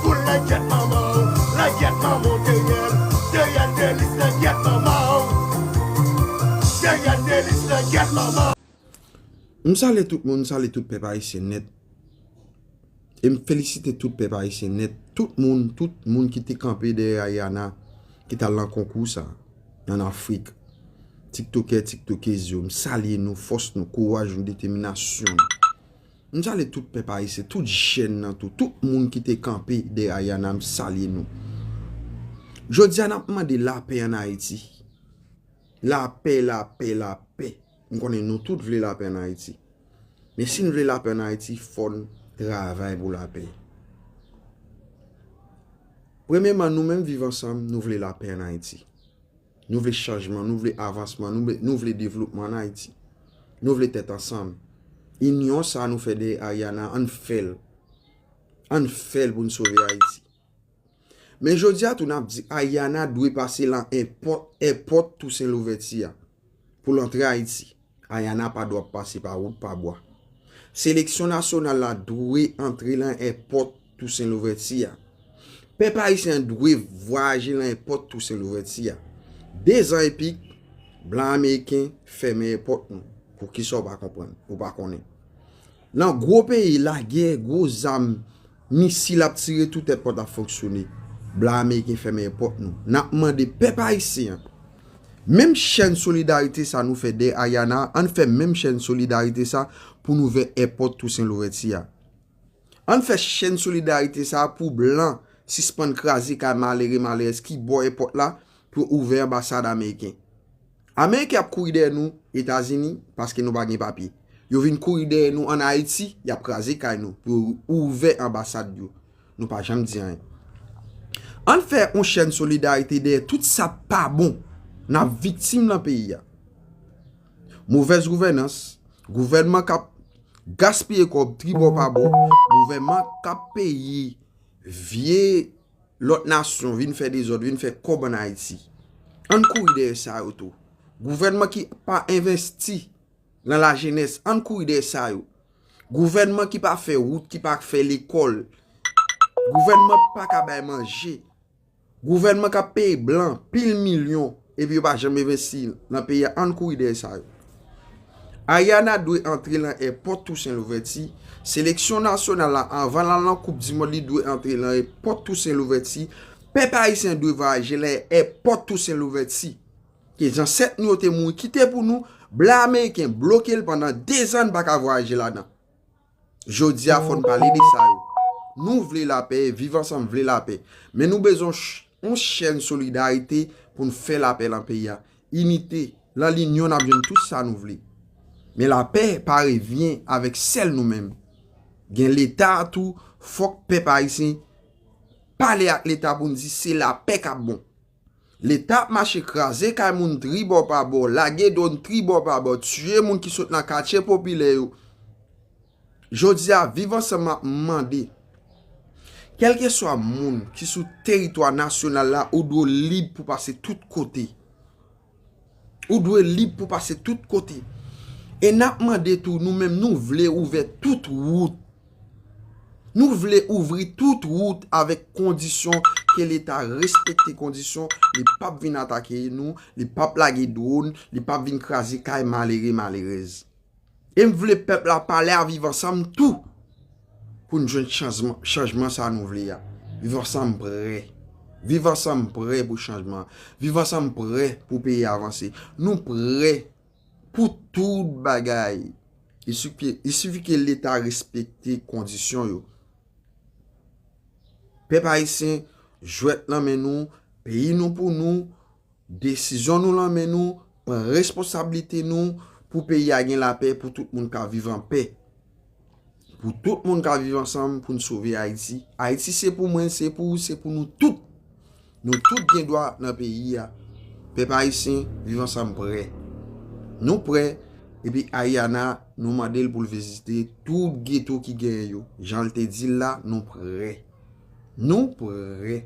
Poul langyèt manman w, langyèt manman w Deyèl, Deyèl Delis langyèt manman w Deyèl Delis langyèt manman w. M salye tout moun, m salye tout pèp ayisyen nèt e m felisite tout pèp ayisyen nèt, tout moun, tout moun ki te kanpe dèyè Ariana ki t al nan konkou sa an Afrik, tiktokè, tiktokez yo, m salye nou, fòs nou, kouraj nou, deteminasyon nou. M sale tout pèp ayisyen, tout jèn nan tou, tout moun ki te kanpe dèyè Ayana m salye nou. Jodi a n ap mande lapè an Ayiti. Lapè, lapè, lapè. M konnen nou tout vle lapè an Ayiti. Men si n vle lapè an Ayiti fò n travay pou lapè. Premyeman nou menm viv ansanm nou vle lapè an Ayiti. Nou vle chanjman, nou vle avansman, nou vle devlopman an Ayiti. Nou vle tèt ansanm. Inyon sa nou fè dèyè Ariana an fè l. An fè l pou n sove Ayiti. Men jodi a tou nap di Ariana dwe pase lan èpòt Toussaint Louverture a pou l antre Ayiti. Ayana pa dwa pase pa wout pa bwa. Seleksyon nasyonal la dwe antre lan èpòt Tousen Louvèti a. Pèp ayisyen an dwe vwayaje lan èpòt Tousen Louvèti a. Dezan epik, blan ameriken fèmen èpòt nou. Poukisa ou pa konprann, ou pa konnen. Nan gwo peyi lagè gwo zam misil ap tire tout èpòt ap fonksyone blan ameriken fèmen èpòt nou nap mande pèp ayisyen an menm chèn solidarite sa nou fè dèyè Ariana a ann fè menm chèn solidarite sa pou n ouvè èpòt Tousen Louvèti a ann fè chèn solidarite sa pou blan sispann kraze kay malere malerèz ki bò èpòt la pou yo ouvè anbasad ameriken. Ameriken ap kouri dèyè nou etazini paske nou pa gen papye. Yo vin kouri dèyè nou an ayiti yap kraze kay nou pou yo ouvè anbasad yo. Nou pa janm di anyen. Ann fè yon chèn solidarite dèyè tout sa pa bon nap viktim lan peyi a. Movèz gouvènans, gouvènman kap gaspiye kòb tribò pa bò, gouvènman kap peyi vye. Lòt nasyon vin fè dezòd, vin fè kòb an Ayiti. Ann kouri dèyè sa yo tou. Gouvènman ki pa envesti nan lajenès, ann kouri dèyè sa yo. Gouvènman ki pa fè wout, ki pa fè lekòl. Gouvènman ki pa ka bay manje. Gouvènman k ap peye blan pil milyon. Epi yo pa janm envesti nan peyi a ann kouri dèyè sa yo. Ariana dwe antre lan è pòt Tousen Louvèti, seleksyon nasyonal la anvan lal lan koup di mond li dwe antre lan è pòt Tousen Louvèti, pèp ayisyen dwe vwayaje lan è pòt Tousen Louvèti ke zansèt nou yo te mouri kite pou nou, blan ameriken blokel pandan 2 zan n paka vwayaje ladan. Jodi a fòn pale de sa yo. Nou vle lapè, viv ansanm vle lapè. Men nou bezwen yon chèn solidarite pou n fè lapè lan peyi a. Inite, lan linyon nap jwenn tout sa nou vle. Men lapè pa revyen avèk sèl nou menm. Gen leta tou, fòk pèp ayisyen pale ak leta pou n di se lapè kap bon. Leta ap mache kraze kay moun tribò pa bò, lage dwòn tribò pa bò, tiye moun ki sot nan katye popilè yo. Jodi a, Viv Ansanm ap mande, kèlkeswa moun ki sou teritwa nasyonal la, ou dwe w lib pou w pase tout kote. Ou dwe lib pou pase tout kote. E nap mande tou nou menm nou vle ouvè tout wout. Nou vle ouvri tout wout avèk kondisyon ke leta respekte kondisyon li pap vin atake nou, li pap lage dwon, li pap vin kraze kay malere malerèz. E m vle pèp la pale a Viv Ansanm tou pou n jwenn chanjman sa nou vle a. Viv Ansanm prè. Viv Ansanm prè pou chanjman. Viv Ansanm prè pou peyi a vanse. Nou prè pou tout bagay. I sifi ke Leta respekte kondisyon yo. Pèp Ayisyen, jwèt nan men nou, peyi nou pou nou. Desizyon nou lan men nou, pran responsablite nou pou peyi a gen lapè pou tout moun ka viv an pè. Pou tout moun ka viv ansanm pou n sove Ayiti. Ayiti se pou mwen, se pou ou, se pou nou tout. Nou tout gen dwa nan peyi a. Pèp ayisyen, viv ansanm prè. Nou prè epi Ariana nou mande l pou l vizite tout geto ki genyen yo. Jan l te di l la, nou prè. Nou prè.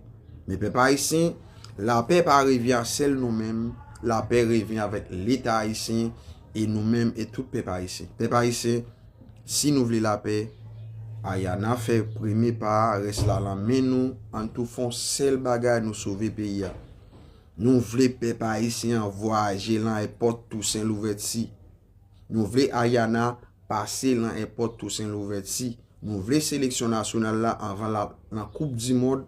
Men pèp ayisyen, lapè pa reve a sèl nou menm, lapè reve avèk leta ayisyen e nou menm e tout pèp ayisyen. Pèp ayisyen, si nou vle lapè, aya na fè premye pa a, rès la lan men nou, ann tou fè yon sèl bagay nou sove peyi a. Nou vle pèp ayisyen an vwayaje lan èpòt Tousen Louvèti. Nou vle Ariana pase lan èpòt Tousen Louvèti. Nou vle seleksyon nasyonal la anvan lap lan koup di mond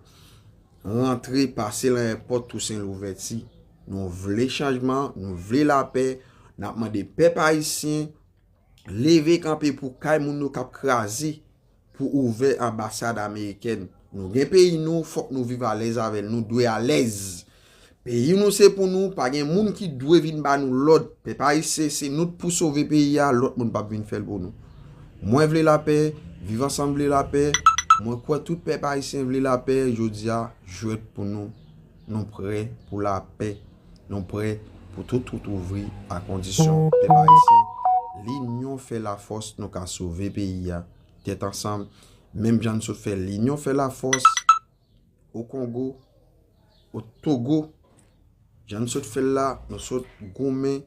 rantre pase lan èpòt Tousen Louvèti. Nou vle chanjman, nou vle lapè, nap mande pèp ayisyen leve kanpe pou kay moun nou kap kraze. pou ouvè anbasad amerikèn nou gen peyi nou fòk nou viv alèz avèl nou dwe alèz peyi nou se pou nou pa gen moun ki dwe vin ba nou lòd pèp ayisyen se nou t pou sove peyi a lòt moun pap vin fèl pou nou mwen vle lapè viv ansanm vle lapè mwen kwè tout pèp ayisyen vle lapè jodia jwèt pou nou. Nou prè pou lapè, nou prè pou tout wout ouvri a kondisyon pèp ayisyen linyon fè lafòs nou ka sove peyi a tèt ansanm menm jan n sot fè linyon fè lafòs o kongo o togo jan n sot fè l la nou sot goumen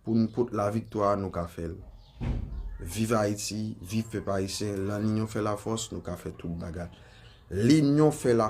Pou n pot la viktwa a nou ka fè l. Viv Ayiti, viv pèp ayisyen, lan linyon fè la fòs nou ka fè tout bagay. Linyon fè la.